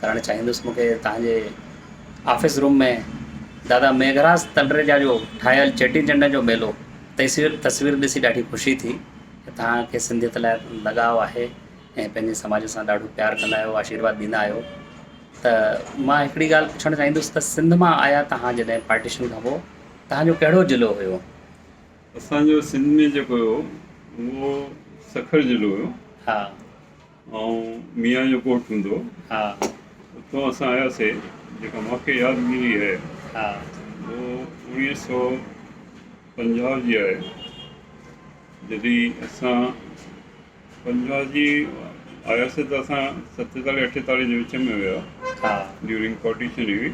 ڪرڻ چاهيندس مون کي توهان جي آفيس روم ۾ دادا ميگهراج تلريجا جو ٺاهيل چيٽي چنڊ جو ميلو تيسير تصوير ڏسي ڏاڍي خوشي ٿي ته توهان کي سنڌيت لاء لڳاء آهي ۽ پنهنجي سماج سان ڏاڍو پيار ڪندا آهيو آشيرواد ڏيندا آهيو ته مان هڪڙي ڳالهه پڇڻ چاهيندس ته سنڌ مان آيا توهان جڏهن پارٽيشن کان پوء توهان جو ڪهڙو ضلعو هيو اسان جو سنڌ ۾ جيڪو هيو اهو سکر ضلعو هيو ها ائون ميان جو ڳوٺ هوندو هو اتان اسان آياسي جيڪا مونکي ياد ملي هي هو اوڻيهه سئو پنجاهه جي آهي جڏي اسان پنجاهه جي آياسي ته اسان ستيتالهه اٺيتالهه جي وچ ۾ هيا ڊيورنگ پارٽيشن هئي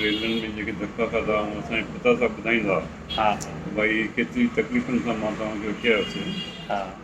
ريلن ۾ جيڪي ڌڪا کاڌا هئا اسان جي پتا صاحب ٻڌائيندا هئا ڀائي ڪيتري تڪليفن سان مان توهان کي وٺي آياسي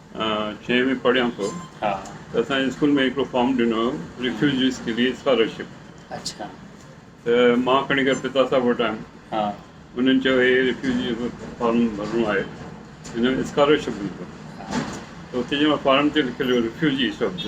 ڇهين ۾ پڙهيان پيو ته اسان جي اسڪول ۾ هڪڙو فارم ڏنو هيو ريفيوجيز ڪي ليي اسڪالرشپ ته مان کڻي ڪري پتا صاحب وٽ آيم انهن چيو هي ريفيوجي جو فارم ڀرڻو آهي هن ۾ اسڪالرشپ ملندو ته اتي جي مان فارم تي لکيل هيو ريفيوجي شبد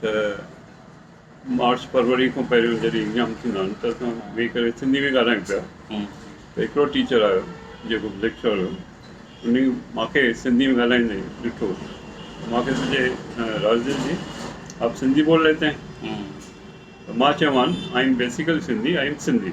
ته مارچ فروري کان پهريون جڏهن ايگزام ٿيندا آهن ته اسان ويهي ڪري سنڌي ۾ ڳالهايون پيا ته هڪڙو ٽيچر آيو جيڪو ليڪچرر هيو انهي مونکي سنڌي ۾ ڳالهائيندي ڏٺو مونکي سوچي راجديو جي آپ سنڌي بول ليتي هين مان چيومان I am basically Sindhi I am Sindhi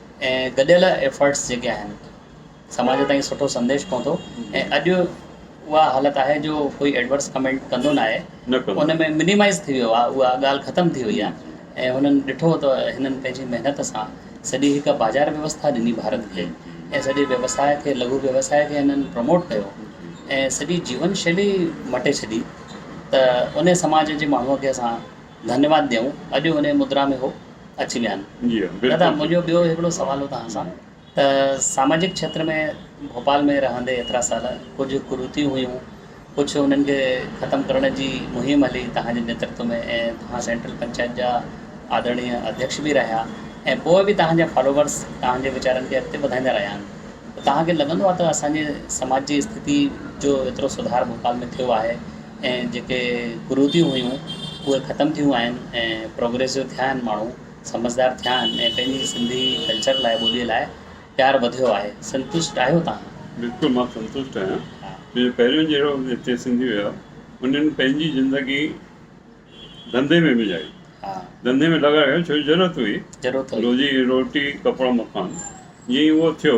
۽ گڏيل ايفرٽس جيڪي آهن سماج تائين سٺو سنديش پهتو ۽ اڄ اها حالت آهي جو ڪوئي ايڊورس ڪمينٽ ڪندو نه آهي ان ۾ منيمائز ٿي ويو آهي اها ڳالهه ختم ٿي وئي آهي ۽ هنن ڏٺو ته هنن پنهنجي محنت سان سڄي هڪ بازار ويوسٿا ڏني ڀارت کي ۽ سڄي ويوساء کي لگهو ويوساء کي هنن پروموٽ ڪيو ۽ سڄي جيون شيلي مٽي ڇڏي ته ان سماج جي ماڻهو کي اسان ڌنيواد ڏيون اڄ هن مدرا ۾ هو اچي ويا آهن دادا منهنجو ٻيو هڪڙو سوال هو توهان سان ته ساماجڪ کيتر ۾ ڀوپال ۾ رهندي ايترا سال ڪجهه ڪرتيون هيون ڪجهه انهن کي ختم ڪرڻ جي مهم هلي توهان جي نيترتو ۾ ۽ توهان سينٽرل پنچائت جا آدرڻيه اڌيڪش به رهيا ۽ پوء به توهان جا فالوورس توهان جي ويچارن کي اڳتي وڌائيندا رهيا آهن ته توهان کي لڳندو آهي ته اسان جي سماج جي استٿتي جو ايترو سڌار ڀوپال ۾ ٿيو آهي ۽ جيڪي ڪروديون هيون اهي ختم ٿيون آهن ۽ پروگريسو ٿيا آهن ماڻهو سمجهدار ٿيا آهن ۽ پنهنجي سنڌي ڪلچر لاء ٻولي لاء پيار وڌيو آهي سنتشٽ آهيو توهان؟ بلڪل مان سنتشٽ آهيان جو پهريون جهڙو هتي سنڌي هيا انهن پنهنجي زندگي ڌنڌي ۾ وجهائي ڌنڌي ۾ لڳائي ڇو جو ضرورت هئي روزي روٽي ڪپڙا مڪان جيئن ئي اهو ٿيو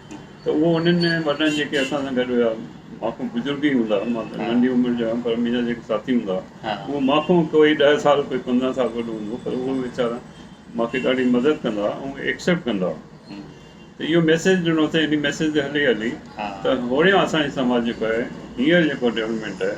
ته اهو انهن ۾ وڏن جيڪي اسان سان گڏ هيا ماکو بزرگ ئي هوندا مان ته ننڍي عمر جو هيم پر منهنجا جيڪي ساٿي هوندا اهو ماکو ڪوئي ڏهه سال ڪوئي پندرهن سال وڏو هوندو پر اهو ويچارا ماکي ڏاڍي مدد ڪندا هئا ۽ ايڪسيپٽ ڪندا هئا ته اهو ميسيج ڏنو اٿئي انهي ميسيج تي هلي هلي ته هوڙيان اسان جي سماج جيڪو آهي هينئر جيڪو ڊيولپمينٽ آهي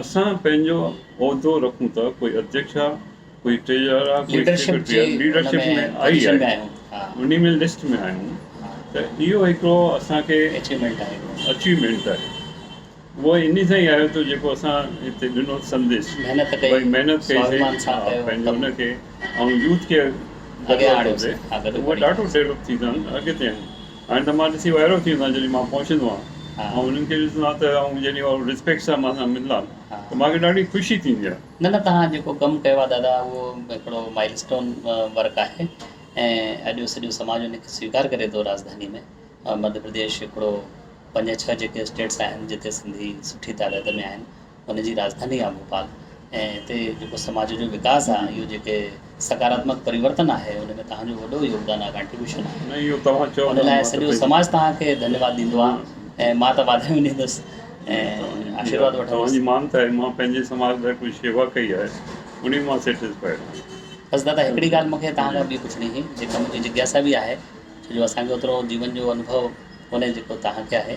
اسان پنهنجو عهدو رکون ته ڪوئي اڌيڪش آ، ڪوئي ٽريجرر آ، ڪوئي سيڪريٽري آ، ليڊرشپ ۾ آئي آهيون، انهي ۾ لسٽ ۾ آهيون ته اهو هڪڙو اسان کي اچيومينٽ آهي. اهو انهي سان ئي آيو ٿو جيڪو اسان هتي ڏنو سنديش ڀئي محنت ڪئي سي پنهنجي ان کي ۽ يوٿ کي اڳيان آڻيو سي ته اهي ڏاڍو ڊيولپ ٿيندا ۽ اڳتي آهن. هاڻي ته مان ڏسي وائرو ٿي ويندو آهيان جڏهن مان پهچندو آهيان ۽ انهن کي ڏسندو آهيان ته آئون جڏهن اهڙو ريسپيڪٽ سان مان سان ملندا آهن ته مان کي ڏاڍي خوشي ٿيندي آهي. نه نه توهان جيڪو ڪم ڪيو آهي دادا اهو هڪڙو مائل اسٽون ورڪ آهي ۽ اڄ سڄو سماج ان کي سويڪار ڪري ٿو راجڌاني ۾ مڌيا پرديش هڪڙو پنج ڇهه جيڪي اسٽيٽس آهن جتي سنڌي سٺي تعداد ۾ آهن ان جي راڄڌاني آهي ڀوپال ۽ اتي جيڪو سماج جو وڪاس آهي اهو جيڪي سڪاراتمڪ پريورتن آهي ان ۾ توهان جو وڏو يوگدان آهي ڪانٽريبيوشن آهي نه اهو توهان چئو ان لاء سڄو سماج توهان کي ڌنيواد ڏيندو آهي ۽ مان ته واڌايون ڏيندس ۽ آشيرواد وٺندس توهان جي مانت آهي مان پنهنجي سماج لاء ڪجهه شيوا ڪئي آهي انهي مان سيٽسفائيڊ آهيان. بس دادا هڪڙي ڳالهه مونکي توهان کان ٻي پڇڻي هئي جيڪا منهنجي جگياسا به آهي ڇو جو اسان کي اوترو جيون جو انڀو ڪونهي جيڪو توهان کي آهي.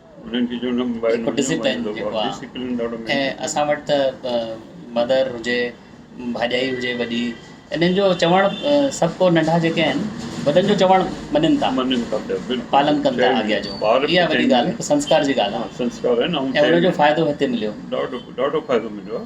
جيڪو ڊسپلين جيڪو آ ۽ اسان وٽ ته مدر هجي ڀاڄائي هجي وڏي انهن جو چوڻ سڀ ڪو ننڍا جيڪي آهن وڏن جو چوڻ مڃن ٿا پالن ڪن ٿا آگيا جو اها وڏي ڳالهه هڪ سنسڪار جي ڳالهه آ ۽ ان جو فائدو هتي مليو ڏاڍو ڏاڍو فائدو مليو آ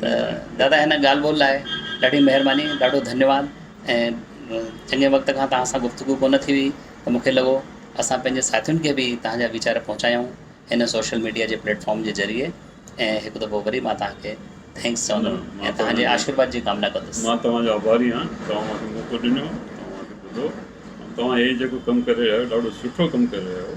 ته دادا هن ڳالهه ٻولهه لاء ڏاڍي مهرباني ڏاڍو ڌنيواد ۽ چڱي وقت کان توهان سان گفتگو ڪونه ٿي هئي ته مونکي لڳو اسان پنهنجي ساٿين کي به توهان جا ويچار پهچايون هن سوشل ميڊيا جي پليٽ فارم جي ذريعي ۽ هڪ دفعو وري مان توهان کي ٿينڪس چوندم ۽ توهان جي آشيرواد جي ڪامنا ڪندس مان توهان جو آڀاري آهيان توهان مان کي موقعو ڏنو توهان مان کي ٻڌو توهان هي جيڪو ڪم ڪري رهيا آهيو ڏاڍو سٺو ڪم ڪري رهيا آهيو